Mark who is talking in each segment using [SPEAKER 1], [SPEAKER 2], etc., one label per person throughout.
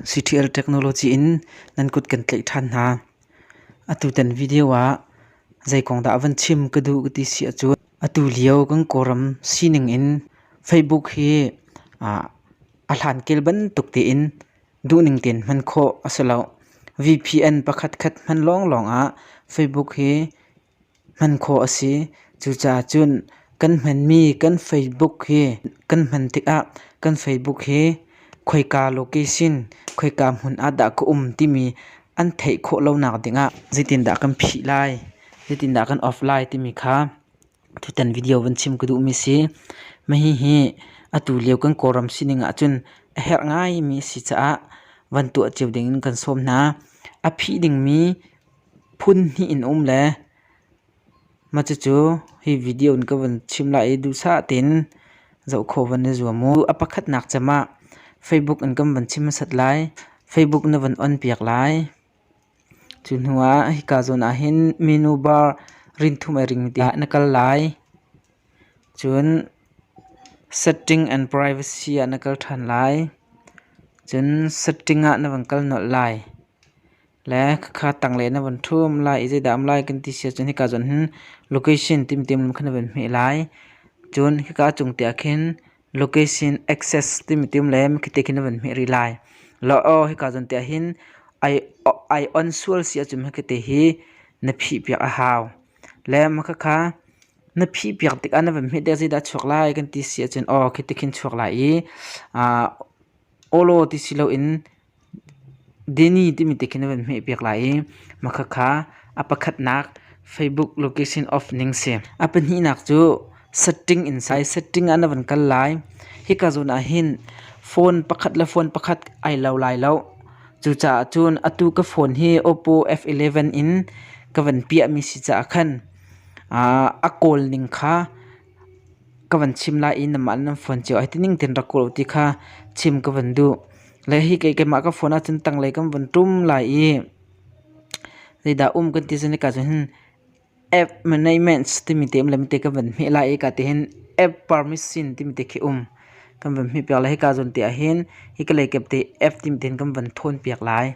[SPEAKER 1] Ctl technology in nan kut kan tlaih ṭhan hna. Atutan video ah zeikong dah a van chim ka duh ka ti si ahcun atu lio kan Kawlram sining in Facebook hi a hlankel bantuk tein duhning tein hman khawh a si lo. VPN pakhatkhat hman lawnglawng ah Facebook hi hman khawh a si. Cucaah cun kan hmanmi kan Facebook hi kan hman tikah kan Facebook hi khoika location, khoika hmun ah dah ka um timi an theih khawh lonak dingah zeitindah kan phih lai, zeitindah kan off lai timi kha tutan video van chim ka duhmi a si. Mahi hi atu lio kan Kawlram sining ahcun a herh ngaimi a si caah van tuah cio dingin kan sawm hna. A phih dingmi phun hnih in a um le mah cucu hi video in ka van chim lai i duhsah tein zoh khawh van i zuam u. A pakhatnak cem ah Facebook in kan van chim hmasat lai. Facebook na van on piak lai. Cu hnu ah hika zawn ah hin menu bar rinthum ai ring ti ah na kal lai. Cun setting and privacy ah na kal ṭhan lai. Cun setting ah na van kal nolh lai. le khakha tanglei na von ṭhum lai i zeidah a um lai kan ti siah cun hika cun location timtim lam kha na von hmeh lai cun hika a cung te ah khin location access timtim le khite khin na von hmeh rih lai lo aw hika cun te ah hin ai on sual siah cun hikate hi na phih piak a hau le ma khakha na phih piak tikah na von hmeh tikah zeidah a chuak lai kan ti siah cun aw khite khin chuak lai i Olo ti si loin Danny timi te khin a van hmehpiak lai i hmakhat kha a pakhatnak Facebook location of ning si. A pahnihnak cu setting in sai. Setting ah na van kal lai. Hika zawn ah hin phone pakhat le phone pakhat ai lo lai lo. Cucaah cun atu ka phone hi Oppo F11 in ka van piahmi si caah khan a kawl ning kha ka van chim lai i nanmah le nan phone cio ai ti ning tein rak kuh law ti kha chim ka van duh. Le hi kei keimah ka phone ahcun tanglei kan van ṭum lai i zeidah um kan ti cun nika cun hin app management timi te um le mite kan van hmeh lai i ka ti hin app permission timi te khi um kan van hmeh piak lai. Hika zawn te ah hin hi kalei kep te app timi te hin kan van ṭhawn piak lai.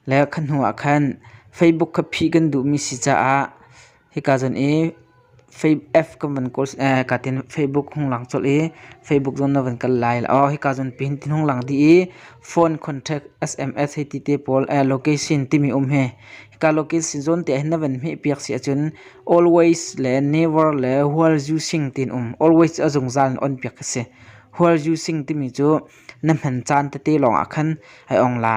[SPEAKER 1] Le kha hnu ah khan Facebook kha phih kan duhmi si caah hika zan i F kan van kawl kaa tin Facebook hung lang colh i Facebook zon na van kal lai aw hika zon pihin tin hung lang dih i phone contact SMS hei ti te pawl location timi um hi hika location zon te hin na van hmeh piak si ahcun always le never le hual zu sing tin um always a zungzal in on piak a si hual zu sing timi cu Na hman caan tete lawngah khan i ong la.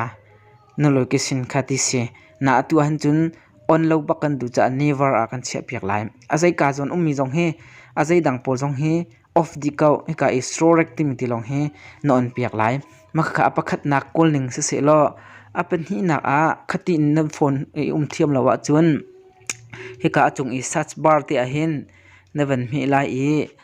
[SPEAKER 1] Na luikisin kha ti si. Na atu ahhin cun on lo bak kan duh caah never a kan chiahpiak lai. A zeika zawn ummi zong hi a zeidang pawl zong hi off dih ko hika i strorek timi ti lawng hi na onpiak lai. Makhakha a pakhatnak kawlning si seh law a pahnihnak ah khati in na phone i um thiam lo ahcun hika a cung i search bar te ahhin na van hmeh lai i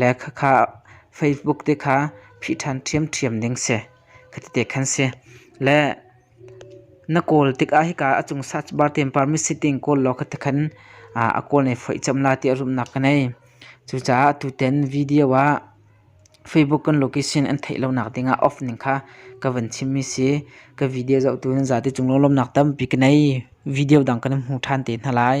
[SPEAKER 1] le khakha Facebook te kha phih ṭhan ṭhiamṭhiam ding si ka ti te khan si. Le na kawl tikah hika a cung search bar te in permit sitting kawl law ka ti khan a kawl ne foih cem la ti a rumnak ka ngei. Cucaah atu ten video ah Facebook kan location an theih lonak dingah off ning kha ka van chimmi si. Ka video zohtu nan zate cung lunglawmnak tampi ka ngei. Video dang kan hmu ṭhan te hna lai.